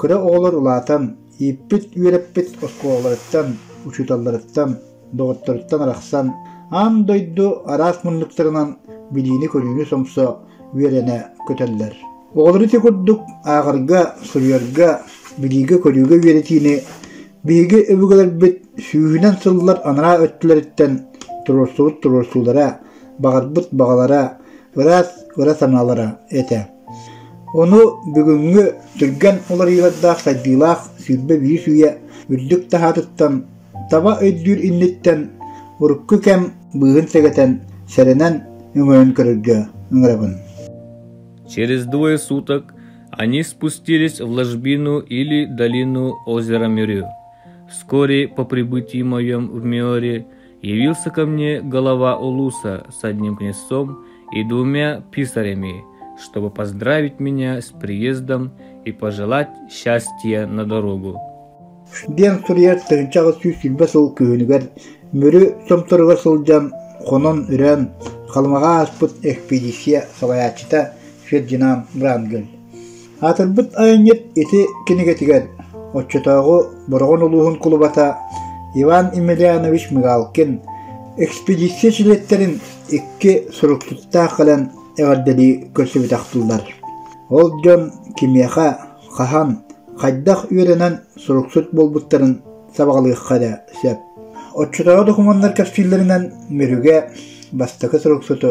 кыра оҕолор улаатан, ииппит үөрэппит оскуолаларыттан, учууталларыттан, доҕотторуттан арахсан, аан дойду араас муннуктарынан билиини-көрүүнү сомсо үөрэнэ көтөллөр. Оҕолору ити курдук ааҕарга, суруйарга, билиигэ-көрүүгэ үөрэтиини биһиги өбүгэлэрбит сүүһүнэн сыллар анараа өттүлэриттэн туруорсубут туруорсуулара, баҕарбыт баҕалара, ыраас ыра санаалара этэ. Ону бүгүҥҥү түргэн уларыйыылардаах сайдыылаах сүүрбэ биис үйэ үрдүк таһаатыттан таба өйдүүр инниттэн урукку кэм быыһын сэгэтэн, сэрэнэн, өҥөйөн көрөргө ыҥырабын. Через двое суток они спустились в ложбину или долину озера Мирю. Вскоре по прибытии моем в Миоре явился ко мне голова Улуса с одним князьцом и двумя писарями, чтобы поздравить меня с приездом и пожелать счастья на дорогу. Диэн суруйар тыһыынча аҕыс сүүс сүүрбэ сыл күһүнүгэр Мүрү Сомторуга сылдьан, хонон үрэн, Халымаҕа ааспыт экспедиция салайааччыта Фердинанд Брангель Аатырбыт айанньыт ити кинигэтигэр оччотооҕу Бороҕон улууһун кулубата Иван Емельянович Мигалкин экспедиция чилиэттэрин икки суруктуттаах кэлэн эҕэрдэлии көрсүбүтэхтииллэр. Ол дьон кимиэхэ, хаһан, хайдах үөрэнэн суруксут буолбуттарын сабаҕалыахха эрэ сөп. Оччотооҕу докумуоннар кэпсииллэринэн, Мүрүгэ бастакы суруксуту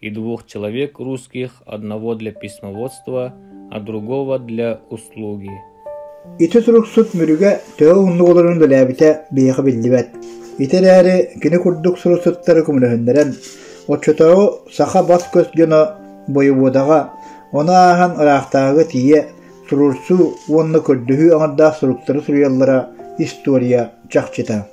И двух человек русских, одного для письмоводства, а другого для услуги. Ити суруксут Мүрүгэ төһө уһуннук олорорун билээбитэ биһиэхэ биллибэт. Ити эрээри кини курдук суруксуттары көмөлөһүннэрэн, оччотооҕу саха бас-көс дьоно бойобуодаҕа, ону ааһан ыраахтааҕыга тиийэ суруурсуу уонна көрдөһүү аҥардаах суруктары суруйаллара история чахчыта.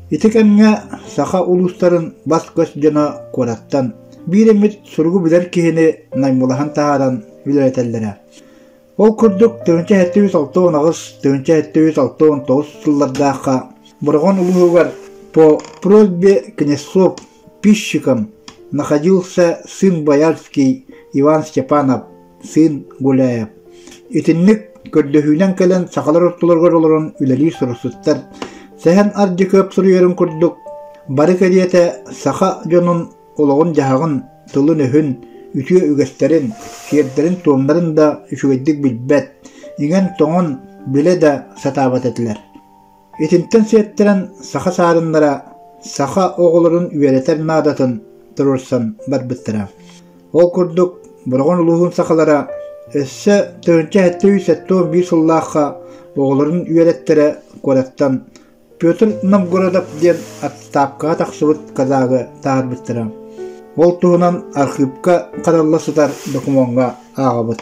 Ити кэмҥэ саха улуустарын бас-көс дьоно куораттан биир эмит суругу билэр киһини наймылаһан таһааран үлэлэтэллэрэ. Ол курдук тыһыынча сэттэ үс алта уон аҕыс тыһыынча сэттэ үс алта уон тоҕус сыллардаахха Бороҕон улууһугар по просьбе князьков пищикам находился сын боярский Иван Степанов Сыын Гуляев итинник көрдөһүүнэн кэлэн сахалар ортолоругар олорон үлэлии суруксуттар Сэһэн Ардьыкыап суруйарын курдук, бары кэриэтэ саха дьонун олоҕун-дьаһаҕын, тылын-өһүн, үтүө үгэстэрин, сиэрдэрин-туомнарын да үчүгэйдик билбэт, иҥэн-тоҥон, билэ да сатаабат этилэр. Итинтэн сиэттэрэн саха саарыннара саха оҕолорун үөрэтэр наадатын туруорсан барбыттара. Ол курдук, Бороҕон улууһун сахалара өссө төрүнчэ сэттэ үс сэттэ уон биир сыллаахха оҕолорун үөрэттэрэ куораттан Петр Новгородов диэн отставкаҕа тахсыбыт казагы таһаарбыттара. Ол туһунан архыыпка харалла сытар докумуоҥҥа ааҕабыт.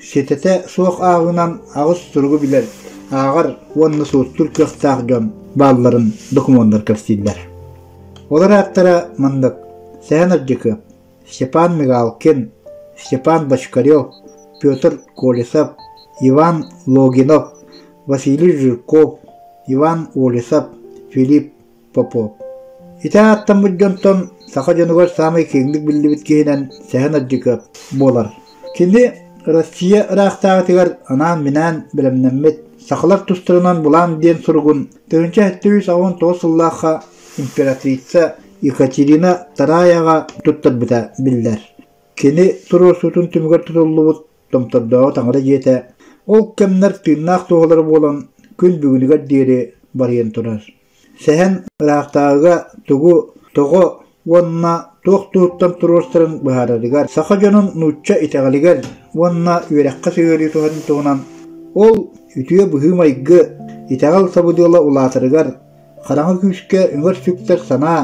Ситэтэ суох ааҕыынан аҕыс суругу билэр, ааҕар уонна суруттуур кыахтаах дьон баалларын докумуоннар кэпсииллэр. Олор ааттара маннык: Сэһэн Ардьыкы, Степан Мигалкин, Степан Бочкарев, Петр Колесов, Иван Логинов, Василий Жирков, Иван Олесов, Филипп Попов. Ити ааттаммыт дьонтон саха дьонугар саамай киэҥник биллибит киһинэн Сэһэн Адьыкыап буолар. Кини Россия ыраахтааҕытыгар анаан-минээн бэлэмнэммит сахалар тустарынан булаан диэн суругун 1919 сыллаахха императрица Екатерина Тараяҕа туттарбыта биллэр. Кини туруорсуутун түмүгэр тутуллубут Томтордооҕу таҥара дьиэтэ ол кэмнэр тыыннаах туоһалара буолан күн бүгүнүгэр диэри барыйан турар. Сэһэн ыраахтааҕыга тугу, тоҕо уонна туох туһуттан туруорсарын быһаарарыгар саха дьонун нуучча итэҕэлигэр уонна үөрэххэ сыһыарыы туһатын туһунан ол үтүө быһыы-майгы, итэҕэл сабыдыала улаатарыгар, хараҥа күүскэ өҥөр сүктэр санаа,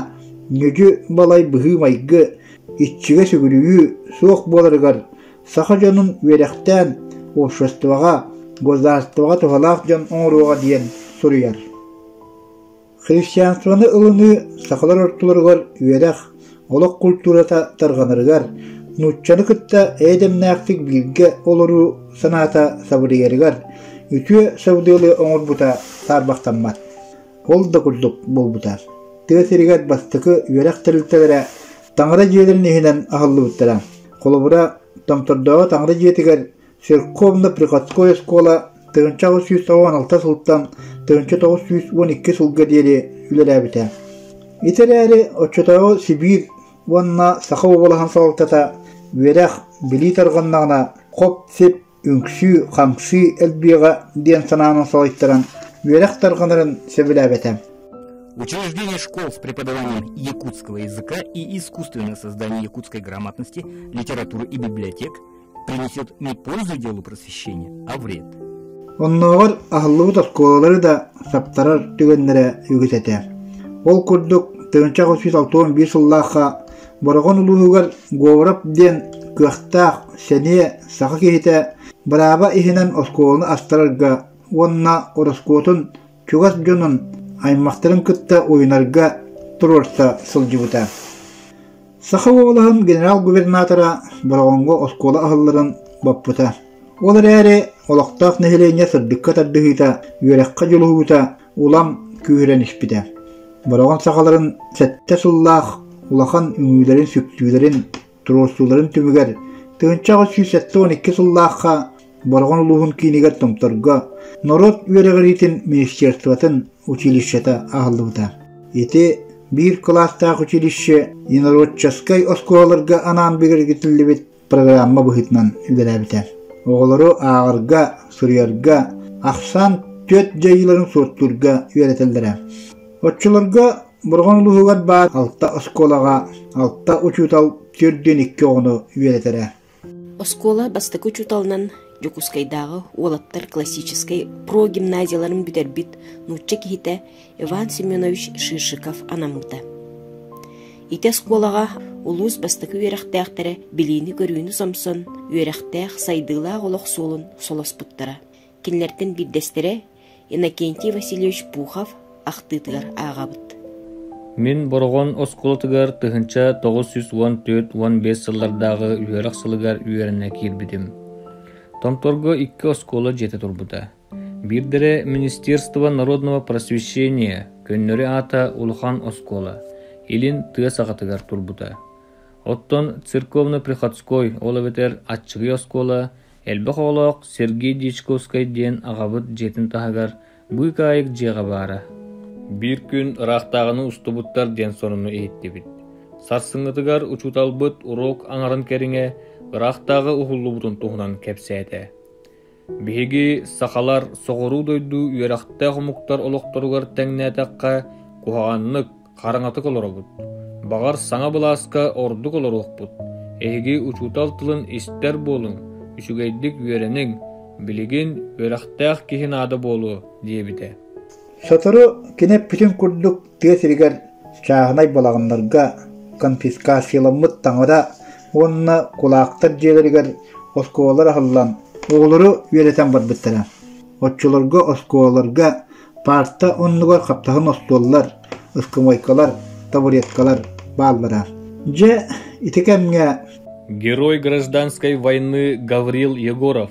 ньүдьү-балай быһыы-майгы, иччигэ сүгүрүйүү суох буоларыгар Саха дьонун үөрэхтээн, уопсастыбаҕа, государствоҕа туһалаах дьон оҥоруоҕа диэн суруйар. Христианствоны ылыныы сахалар ортолоругар үөрэх, олох культурата тарҕанарыгар, нууччаны кытта эйэдэмнээхтик бииргэ олоруу санаата сабыдыйарыгар үтүө сабыдыалы оҥорбута саарбахтаммат. Ол да курдук буолбута. тыа сиригэр бастакы үөрэх тэрилтэлэрэ Таҥара дьиэлэрин иһинэн аһыллыбыттара. Холобура, Томтордооҕу таҥара дьиэтигэр Серковна приходской оскуола тыһыынча аҕыс сүүс тоҕус алта сылтан тыһыынча тоҕус сүүс уон икки сылга диэри үлэлээбитэ. Ити эрээри оччотооҕу Сибиир уонна Саха уобалаһын салалтата үөрэх, билии тарҕаннаҕына хоп-сип үҥсүү-хамсыы элбиэҕэ диэн санааны соһуйтаран үөрэх тарҕанарын сөбүлээбэтэ. Учреждение школ с преподаванием якутского языка и искусственное создание якутской грамотности, литературы и библиотек принесет не пользу делу просвещения, а вред. Оннооҕор аһыллыбыт оскуолалары да саптарар түгэннэрэ үгүс этэ. Ол курдук, тыһыынча отуз сыллаахха Бороҕон улууһугар Говоров диэн кыахтаах сэниэ саха киһитэ бырааба иһинэн оскуоланы астарарга уонна ороскуотун чугас дьонун аймахтарын кытта уйунарга туруорса сылдьыбыта. Саха уобалаһын генерал-губернатора Бороҕоҥҥо оскуола аһылларын боппута. Ол эрээри олохтоох нэһилиэнньэ сырдыкка тардыһыыта, үөрэххэ дьулуһуута улам күүһүрэн испитэ, бороҕон сахаларын сэттэ сыллаах улахан үҥүүлэрин сүктүүлэрин туруорсууларын түмүгэр тыһыынча аҕыс сүүс сэттэ уон икки сыллаахха Бороҕон улууһун киинигэр Томторго норуот үөрэҕириитин министерствотын училищета аһыллыбыта. Ити биир кылаастаах училище ненаруотчаскай оскуолаларга анаан бигэргэтиллибит программа быһыытынан үлэлээбитэ. Оҕолору ааҕарга, суруйарга, ахсаан түөрт дьайыыларын суоттуурга үөрэтэллэрэ. Оччолорго Борҕон улууһугар баар алта оскуолаҕа алта учуутал төрдүн икки оҕону үөрэтэрэ. Оскуола бастакы учууталынан Дьокуускайдааҕы уолаттар классическай прогимназияларын бүтэрбит нуучча киһитэ Иван Семенович Шишиков анаммыта. Ити оскуолаҕа улуус бастакы үөрэхтээхтэрэ билиини-көрүүнү сомсон, үөрэхтээх, сайдыылаах олох суолун солоспуттара. Кинилэртэн биирдэстэрэ Иннокентий Васильевич Пухов ахтыытыгар ааҕабыт. Мин Бороҕон оскуолатыгар тыһынча тоҕус сүүс уон төрт уон биэс сыллардааҕы үөрэх сылыгар үөрэнэ киирбитим. Томторго икки оскуола дьиэтэ турбута. Биирдэрэ Министерство народного просвещения көннөрү аата улахан оскуола, илин тыа саҕатыгар турбута. Оттон церковно-приходской, ол эбэтэр аччыгый оскуола элбэх оҕолоох Сергей Дьячковскай диэн аҕабыт дьиэтин таһыгар быыкаайык дьиэҕэ баара. Биир күн ыраахтааҕыны устубуттар диэн сонуну иһиттибит. Сарсыҥҥытыгар учууталбыт уруок аҥарын кэриҥэ ыраахтааҕы уһуллубутун туһунан кэпсээтэ. Биһиги, сахалар, соҕуруу дойду үөрэхтээх омуктар олохторугар тэҥнээтэххэ, куһаҕаннык, хараҥатык олоробут. Баҕар, саҥа былааска ордук олоруохпут. Эһиги учуутал тылын истэр буолуҥ, үчүгэйдик үөрэниҥ, билигин үөрэхтээх киһи наада буолуо, диэбитэ. Сотору кини эппитин курдук тыа сиригэр чааһынай балаҕаннарга конфискацияламмыт таҥара уонна кулаактар дьиэлэригэр оскуолалар аһыллан, оҕолору үөрэтэн барбыттара. Оччолорго оскуолаларга парта оннугар хаптаһын остуоллар, ыскамыайкалар, табуреткалар бааллара. Дьэ, ити кэмҥэ герой гражданской войны Гаврил Егоров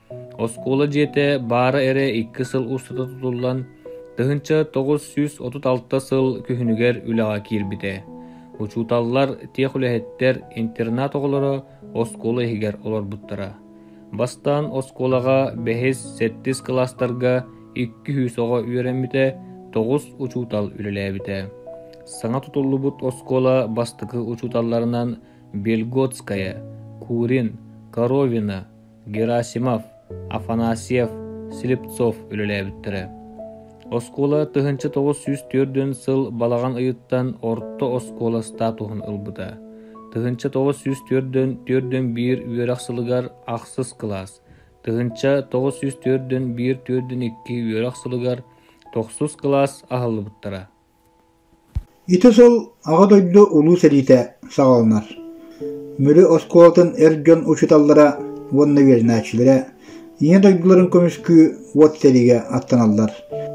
Оскуола дьиэтэ баара эрэ икки сыл устата тутуллан, тыһыынча тоҕус сүүс отут алта сыл күһүнүгэр үлэҕэ киирбитэ. Учууталлар, техүлэһиттэр, интернат оҕолоро оскуола иһигэр олорбуттара. Бастаан оскуолаҕа бэһис, сэттис кылаастарга икки сүүс оҕо үөрэммитэ, тоҕус учуутал үлэлээбитэ. Саҥа тутуллубут оскуола бастакы учууталларынан Бельготская, Курин, Коровина, Герасимов, Афанасьев, Слепцов үлэлээбиттэрэ. Оскуола тыһыынча тоҕус сүүс түөртүн сыл балаҕан ыйыттан орто оскуола статуһун ылбыта. Тыһыынча тоҕус сүүс төрдүн төрдүн биир үөрэх сылыгар ахсыс кылаас, тыһыынча тоҕус сүүс төрдүн биир төрдүн икки үөрэх сылыгар тохсус кылаас аһыллыбыттара. Ити сыл Аҕа дойду Улуу сэриитэ саҕаланар. Мүрү оскуолатын эр дьон учууталлара уонна үөрэнээччилэрэ Ийэ дойдуларын көмүскүү уот сэриигэ аттаналлар.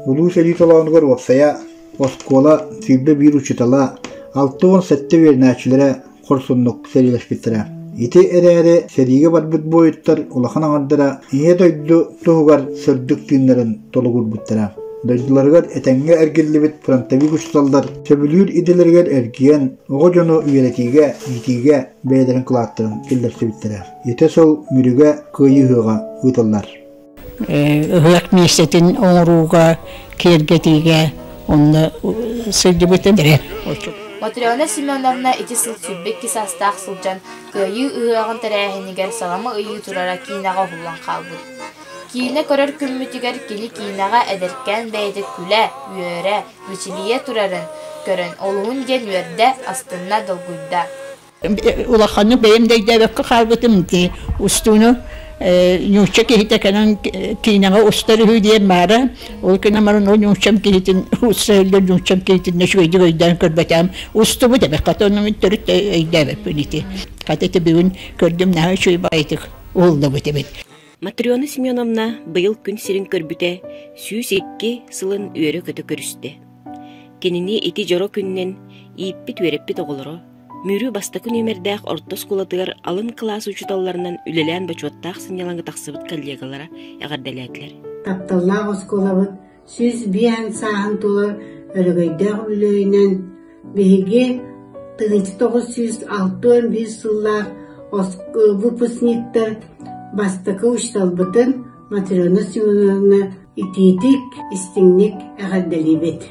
Улуу сэрии толоонугар уопсайа оскуола, сүүрбэ биир учуутала, алта уон сэттэ үөрэнээччилэрэ хорсуннук сэриилэспиттэрэ. Ити эрээри сэриигэ барбыт буойуттар улахан аҥардара Ийэ дойду туһугар сырдык тыыннарын толугурбуттара. Дойдуларыгар этэҥҥэ эргиллибит фронтовик учууталлар сөбүлүүр идэлэригэр эргийэн оҕо дьону үөрэтиигэ, иитиигэ бэйэлэрин кылааттарын киллэрсибиттэрэ. Ити сыл Мүрүгэ кыайыы ыһыаҕа ыытыллар. ыһыах миэстэтин оҥорууга, киэргэтиигэ онно сылдьыбытым. Матрена Семеновна ити сыл сүүрбэ икки саастаах сылдьан Кыайыы ыһыаҕын тэрээһинигэр саҕама ыйыы турара киинэҕэ уһуллан хаалбыт. Киинэ көрөр күммүтүгэр кини киинэҕэ эдэркээн бэйэтэ күлэ, үөрэ, мичилийэ турарын көрөн олуһун диэн үөрдэ, астынна, долгуйда. улаханнык бэйэм да өйдөөбөккө хаалбытым дии устууну нуучча киһитэ кэлэн киинэҕэ устар үһү диэн баара ол гынан баран ол нууччам киһитин устса өллө нууччам киһитин үчүгэйдик өйдөөн көрбөтөм устубут эбэ хата оннугун төрүт өйдөөбөппүн ити хата ити бүгүн көрдүм наһаа үчүгэй баҕайытык уоллубут эбит Матрена Семеновна быйыл күн сирин көрбүтэ сүүс икки сылын үөрэ-көтө көрүстэ. Кинини ити дьоро күннэн ииппит-үөрэппит оҕолоро Мүрү бастакы нүөмэрдээх орто оскуолатыгар алын кылаас учууталларынан үлэлээн бочуоттаах сынньалаҥы тахсыбыт коллегалара эҕэрдэлээтилэр. Тапталлаах оскуолабыт сүүс биээн сааһын тула өрөгөйдөөх үлүөйүнэн биһиги 1906-5 сыллаах выпускниктар бастакы учууталбытын Матрена Семеновна итиитик, истиҥник эҕэрдэлиибит.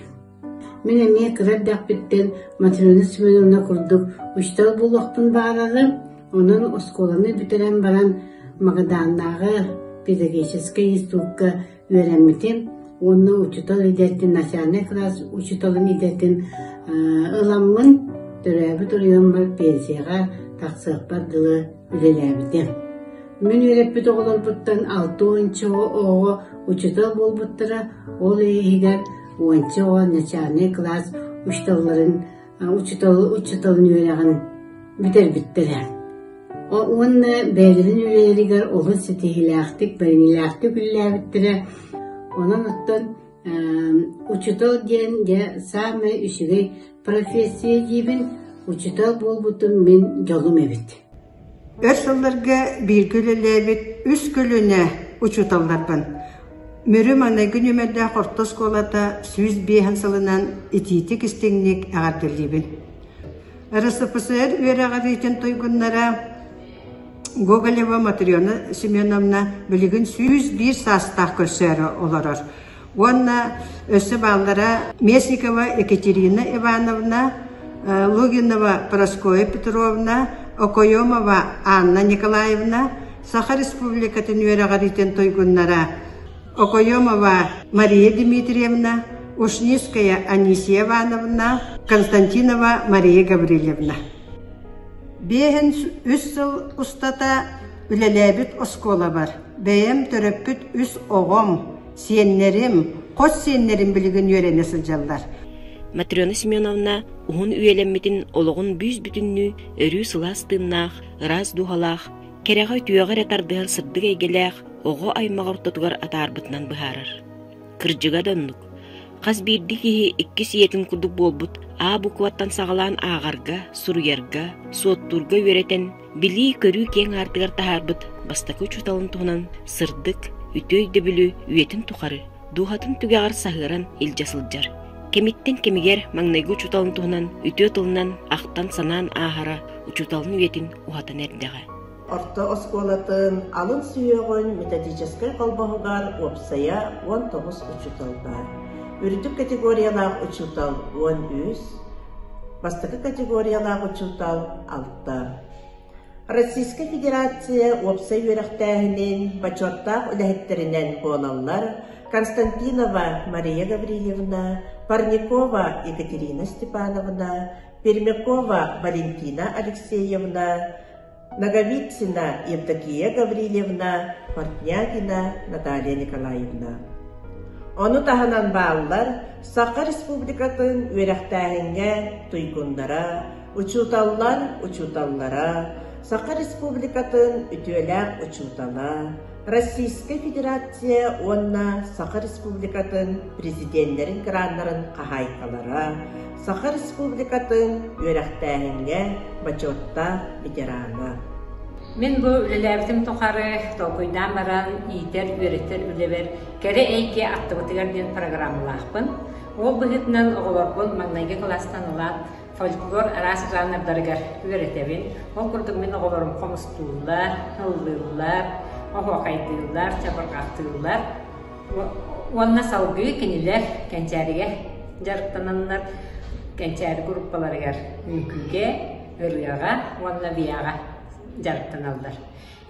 Мин эмиэ кыра эрдэхпиттэн Матрена Семеновна курдук учуутал буолуохпун баҕарарым, онон оскуоланы бүтэрэн баран Магадааннааҕы педагогическай институкка үөрэммитим уонна учуутал идэтин, начальнай кылаас учууталын идэтин ыламмын, төрөөбүт оройуоммар пенсияҕа тахсыахпар дылы үлэлээбитим. Мин үөрэппит оҕолорбуттан алта уонча оҕо учуутал буолбуттара, ол иһигэр уонча оҕо начальнай кылаас учууталларын учуутал учууталын үөрэҕин бүтэрбиттэрэ. Уонна бэйэлэрин үлэлэригэр олус ситиһиилээхтик, бэриҥилээхтик үлэлээбиттэрэ. Онон оттон учуутал диэн дьэ саамай үчүгэй профессия диибин, учуутал буолбутум мин дьолум эбит. Өр сылларга бииргэ үлэлээбит үс көлүөнэ учууталларбын, Мүрү-маныгы нүөмэрдээх орто оскуолата сүүс биэһин сылынан итиитик-истиҥник эҕэрдэлиибин. РСФСР үөрэҕириитин туйгуннара Гоголева Матрена Семеновна билигин сүүс биир саастаах көрсөөрү олорор. уонна өссө бааллара Местникова Екатерина Ивановна, Лугинова Прасковья Петровна, Окоемова Анна Николаевна, Саха Республикатын үөрэҕириитин туйгуннара Окоемова Мария Дмитриевна, Ушницкая Анисия Ивановна, Константинова Мария Гаврильевна. Биэһин үс сыл устата үлэлээбит оскуолабар Бэйэм төрөппүт үс оҕом, сиэннэрим, хос сиэннэрим билигин үөрэнэ сылдьаллар. Матрена Семеновна уһун үйэлэммитин олоҕун бүүс-бүтүннүү өрүү сылаас тыыннаах, ыраас дууһалаах, кэрэҕэ үтүөҕэ эрэ тардыһар сырдык эйгэлээх оҕо аймах ортотугар атаарбытынан быһаарар. Кырдьыга да оннук. Хас биирдии киһи иккис ийэтин курдук буолбут А букваттан саҕалаан ааҕарга, суруйарга, суоттуурга үөрэтэн Билии-көрүү киэҥ аартыгар таһаарбыт бастакы учууталын туһунан сырдык, үтүө өйдөбүлү үйэтин тухары, дууһатын түгэҕэр саһыаран илдьэ сылдьар. Кэмиттэн кэмигэр маҥнайгы учууталын туһунан үтүө тылынан ахтан-санаан ааһара учууталын үйэтин уһатан эрдэҕэ. Орто оскуолатын алын сүһүөҕүн методическай холбоһугар уопсайа уон тоҕус учуутал баар. Үрдүк категориялаах учуутал уон үс, бастакы категориялаах учуутал Российскай Федерация уопсай үөрэхтээһинин бочуоттаах үлэһиттэринэн буолаллар Константинова Мария Гаврильевна, Парникова Екатерина Степановна, Пермякова Валентина Алексеевна, Ноговицына Евдокия Гаврильевна, Портнягина Наталья Николаевна. Ону таһынан бааллар Саха Республикатын үөрэхтээһиҥҥэ туйгуннара, Учууталлар учууталлара, Саха Республикатын үтүөлээх учуутала, Российскай Федерация уонна Саха Республикатын Президеннэрин граннарын хаһаайкалара, Саха Республикатын үөрэхтээһиҥҥэ бочуоттаах ветерана. Мин бу үлэлээбитим тухары толкуйдаан баран иитэр-үөрэтэр үлэбэр кэрэ эйгэ аттыбытыгар диэн программалаахпын. Ол быһыытынан оҕолорбун маҥнайгы кылаастан ылаат, Фольклор араас жанрдарыгар үөрэтэбин. Ол курдук мин оҕолорум хомустууллар, ыллыыллар, оһуохайдыыллар, чабырҕатыыллар уонна салгыы кинилэр кэнчээригэ дьарыктананнар кэнчээри группаларыгар үҥкүүгэ, ырыаҕа уонна бияҕа дьарыктаналлар.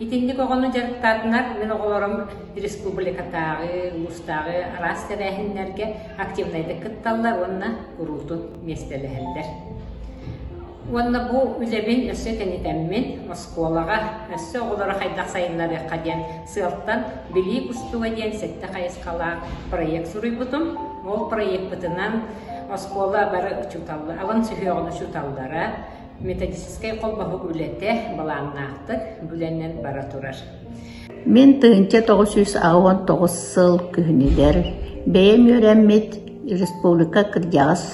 Итинник оҕону дьарыктаатынар мин оҕолорум республикатааҕы, улуустааҕы араас тэрээһиннэргэ активнайдык кытталлар уонна куруутун миэстэлэһэллэр. Уонна бу үлэбин өссө кэнитэммин оскуолаҕа өссө оҕолору хайдах сайыннарыахха диэн сыалтан Билии кустуга диэн сэттэ хайысхалаах проект суруйбутум. Ол проекпытынан оскуола бары учууталлар, аван сүһүөҕүн учууталлара, Металлическай холбоһук үлэтэ балааннаахтык бүлэнэн бара турар. Мин тыһыынча тоҕус сүүс аҕа уон тоҕус сыл күһүнүгэр бэйэм үөрэммит республика кырдьаҕас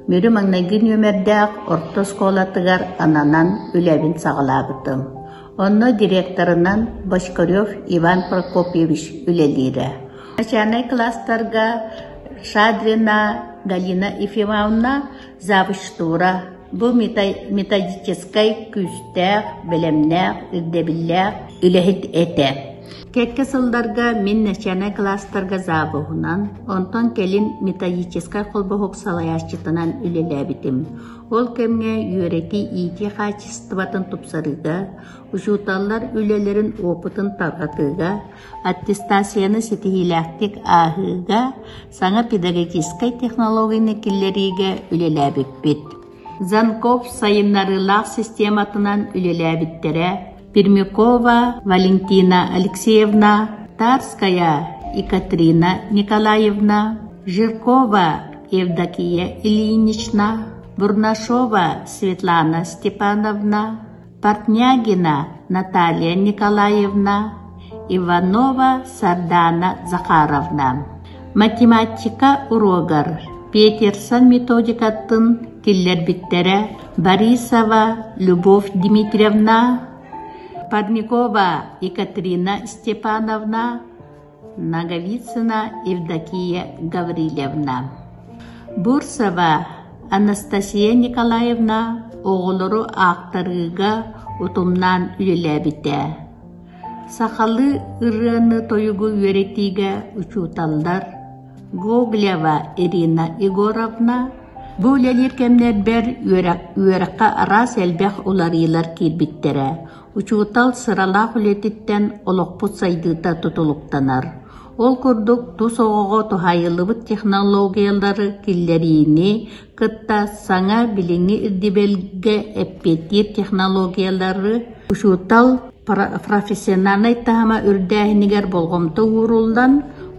Мүрү маҥнайгы нүөмэрдээх орто оскуолатыгар ананан үлэбин саҕалаабытым. Онно директорынан Бочкарев Иван Прокопьевич үлэлиирэ. Начальнай класстарга Шадрина Галина Ефимовна Забыштура – бу методическай күүстээх, бэлэмнээх, ирдэбиллээх үлэһит этэ. Кэккэ сылларга мин начальнай кылаастарга завуһунан, онтон кэлин методическай холбоһук салайааччытынан үлэлээбитим. Ол кэмҥэ үөрэтии-иитии хаачыстыбатын тупсарыыга, учууталлар үлэлэрин опытын тарҕатыыга, аттестацияны ситиһиилээхтик ааһыыга, саҥа педагогическай технологияны киллэриигэ үлэлээбиппит. Занков сайыннарыылаах систематынан үлэлээбиттэрэ Пермякова Валентина Алексеевна, Тарская Екатерина Николаевна, Жиркова Евдокия Ильинична, Бурнашова Светлана Степановна, Портнягина Наталья Николаевна, Иванова Сардана Захаровна, математика уруогар Петерсон методикатын киллэрбиттэрэ Борисова Любовь Дмитриевна, Парникова Екатерина Степановна, Ноговицына Евдокия Гаврильевна, Бурцева Анастасия Николаевна оҕолору аахтарыыга утумнаан үлэлээбитэ. Сахалыы ырыаны тойугу үөрэтиигэ учууталлар Гоголева Ирина Егоровна бу үлэлиир кэмнэрбэр үөрэххэ араас элбэх уларыйыылар киирбиттэрэ. Учуутал сыралаах үлэтиттэн олохпут сайдыыта тутулуктанар. Ол курдук, тус оҕоҕо туһайыллыбыт технологиялары киллэриини кытта саҥа билиҥҥи ирдэбилгэ эппиэттиир технологиялары учуутал профессиональнай таһыма үрдээһинигэр болҕомто ууруллан,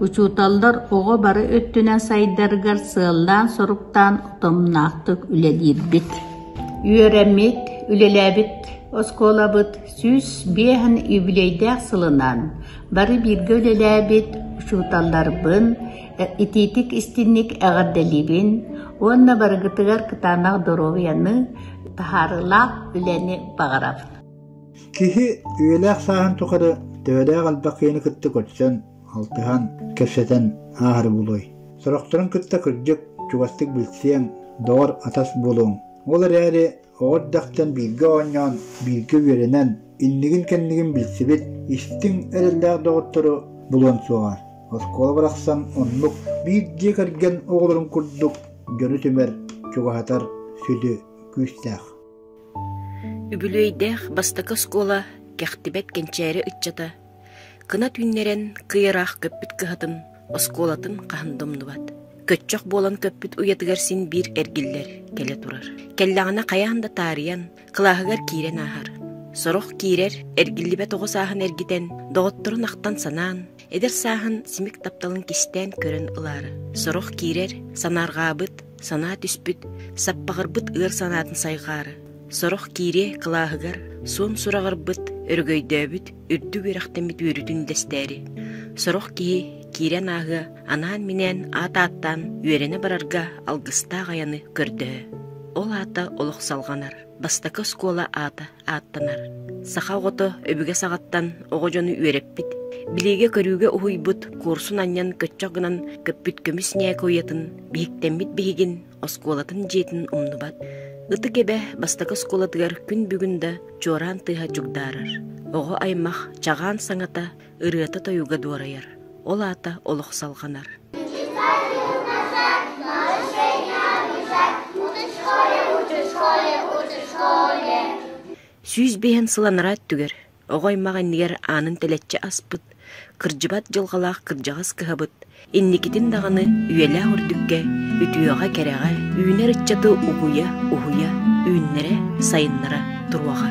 учууталлар оҕо бары өттүнэн сайдарыгар сыаллаан-соруктаан утумнаахтык үлэлиирбит. Үөрэммит, үлэлээбит оскуолабыт сүүс биэһин үбүлүөйдээх сылынан бары бииргэ үлэлээбит учууталларбын, итиитик-истинник эҕэрдэлиибин уонна барыгытыгар кытаанах доруобуйаны, таһаарыылаах үлэни баҕарабын. Киһи үйэлээх сааһын тухары төбөлөөх элбэх киһини кытта көрсөн алтыһан, кэпсэтэн ааһары булуой. Сорохторун кытта кырдьык, чугастык билсиэҥ, доҕор, атас буолуоҥ. Ол эрээри оҕо эрдэхтэн бииргэ оонньоон, бииргэ үөрэнэн, иннигин-кэннигин билсибит, истиҥ эрэллээх доҕоттору булуон суоҕа. Оскуола барахсан оннук биир дьиэ кэргэн оҕолорун курдук дьону түмэр, чугаһатар сүдү күүстээх. Үбүлүөйдээх бастакы оскуола кэхтибэт кэнчээри ыччата Кына түүннэрэн кыйараах көппүт кыһатын оскуолатын хаһан да умнубат. Көччөх буолан көппүт уйатыгар син биир эргиллэр, кэлэ турар. Кэллэҕинэ хайаан да таарыйан, кылааһыгар киирэн ааһар. Сорох киирэр, эргиллибэт оҕо сааһын эргитэн, доҕотторун ахтан санаан, эдэр сааһын симик тапталын кистээн көрөн ылаары. Сорох киирэр, санаарҕаабыт, санаа түспүт, саппаҕырбыт ыар санаатын сайҕаары. Сорох киириэ кылааһыгар, суон сураҕырбыт, өрөгөйдөөбүт, үрдүк үөрэхтэммит үөрүүтүн дэстээри сорох киһи киирэн ааһыа анаан-минээн аат ааттаан үөрэнэ барарга алгыстаах айаны көрдөһө ол аата олох салҕанар бастакы оскуола аата ааттанар саха оҕото өбүгэ саҕаттан оҕо дьону үөрэппит билиигэ-көрүүгэ уһуйбут куорсун анньан көччөх гынан көппүт көмүс ньээкэ уйатын биһиктэммит биһигин оскуолатын дьиэтин умнубат, ытык эбэ бастакы оскуолатыгар күн бүгүн да чуораан тыаһа дьугдаарар. Оҕо аймах чагаан саҥата, ырыата-тойуга дуорайар. Ол аата олох салҕанар. Сүүс биэһин сыл анараа өттүгэр Оҕо аймах иннигэр аанын тэлэччи аспыт, кырдьыбат дьылҕалаах кырдьаҕас кыһабыт, инникитин даҕаны үйэлээх үрдүккэ, үтүөҕэ-кэрэҕэ, үүнэр ыччаты угуйа-уһуйа, үүннэрэ-сайыннара туруоҕа.